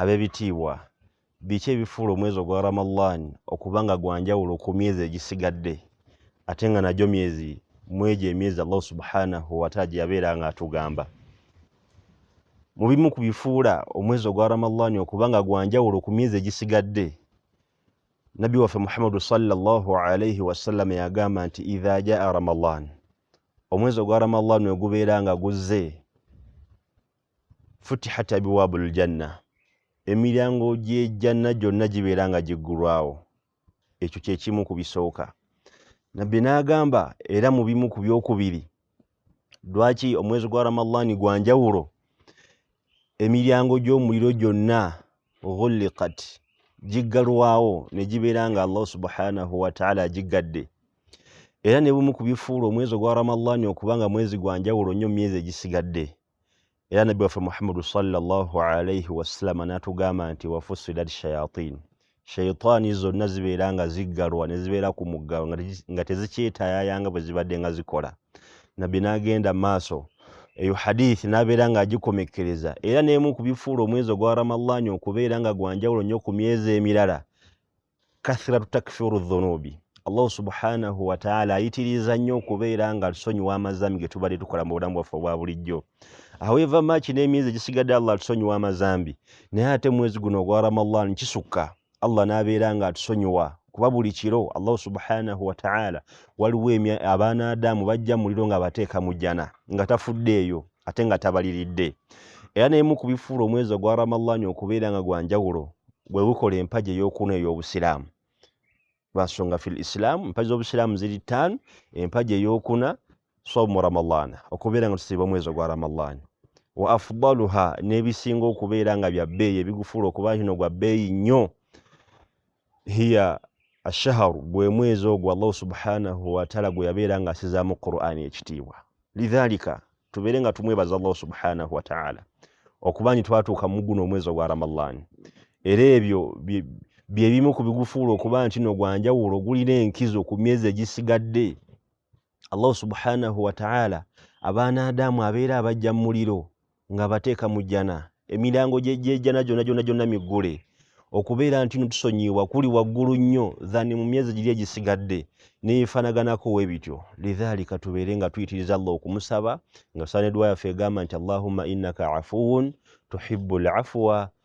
abebitiibwa biki ebifuula omwezi ogwa ramadan okuba nga gwanjawulo ku myezi egisigadde ate nga nagyo myezi mwegyo emyezi allahu subhanahu wataala gyeyabeera nga atugamba mu bimu ku bifuula omwezi ogwa ramadan okuba nga gwanjawulo ku myezi egisigadde nabbi waffe muhammadu salllah alaihi wasallama yagamba nti idha jaa ramadan omwezi ogwa ramadan wegubeera nga guzze futihat abiwaabu ljanna emiryango gyejjanna gyonna gibeera nga giggulwawo ekyo kyekimu ku bisooka nabbi n'agamba era mu bimu ku byokubiri lwaki omwezi gwa ramadaani gwa njawulo emiryango gy'omuliro gyonna ghulikat giggalwawo ne gibeera nga allah subhanahu wataala agiggadde era ne bumu ku bifuula omwezi ogwa ramadaani okuba nga mwezi gwa njawulo nnyo mu myezi egisigadde era nabbi waffe muhammadu salllah alaihi wasalama natugamba nti wafusilat shayatin shaitaani zonna zibeera nga ziggalwa ne zibeera ku muggalo nga tezikyetayaya nga bwe zibadde nga zikola nabbi n'agenda maaso eyo hadithi n'abeera ng'agikomekkereza era n'emu ku bifuula omwezi ogwa ramallani okubeera nga gwanjawulo nnyo ku myezi emirala kathratu takfiru dhunubi allah subhanahu wataala ayitiriza nnyo okubeera nga tusonyiwa amazambi getubadde tukola mu bulamu bwaffe obwa bulijjo aweva maaki n'emyezi egisigadde allah atusonyiwa amazambi naye ate mwezi guno ogwa ramadan kisukka allah n'abeera nga atusonyiwa kuba buli kiro allah subhanahu wataala waliwo abaana adamu bajja muliro nga bateeka mu jjana nga tafuddeeyo ate nga tabaliridde era nemu ku bifuula omwezi ogwa ramalani okubeera nga gwa njawulo bwe bukola empagi ey'okuna ey'obusiraamu lwansonga fi lisilaamu empagi z'obusiraamu ziri ttaanu empagi ey'okuna somu ramalana okubeera nga tusiiba omwezi ogwa ramalani wa afdaluha n'ebisinga okubeera nga bya bbeeyi ebigufuula okuba kino gwa bbeeyi nnyo hiya ashaharu gwe mwezi ogwo allahu subhanahu wataala gwe yabeera nga asizaamu qurani ekitiibwa lidhalika tubeere nga tumwebaza allahu subhanahu wataala okuba nti twatuuka mu guno omwezi ogwa ramadan era ebyo byebimu ku bigufuula okuba nti no gwanjawulo gulina enkizo ku myezi egisigadde allahu subhanahu wataala abaana adamu abeera abajja mu muliro nga abateeka mu jjana emirango gyejjana gyona gyona gyonna miggule okubeera nti no tusonyiibwa kuli waggulu nnyo than mu myezi giri egisigadde neyefanaganako we bityo lidhalika tubeere nga tuyitiriza allah okumusaba nga tusaana edwa yaffe egamba nti allahumma innaka afuwun tuhibu lafuwa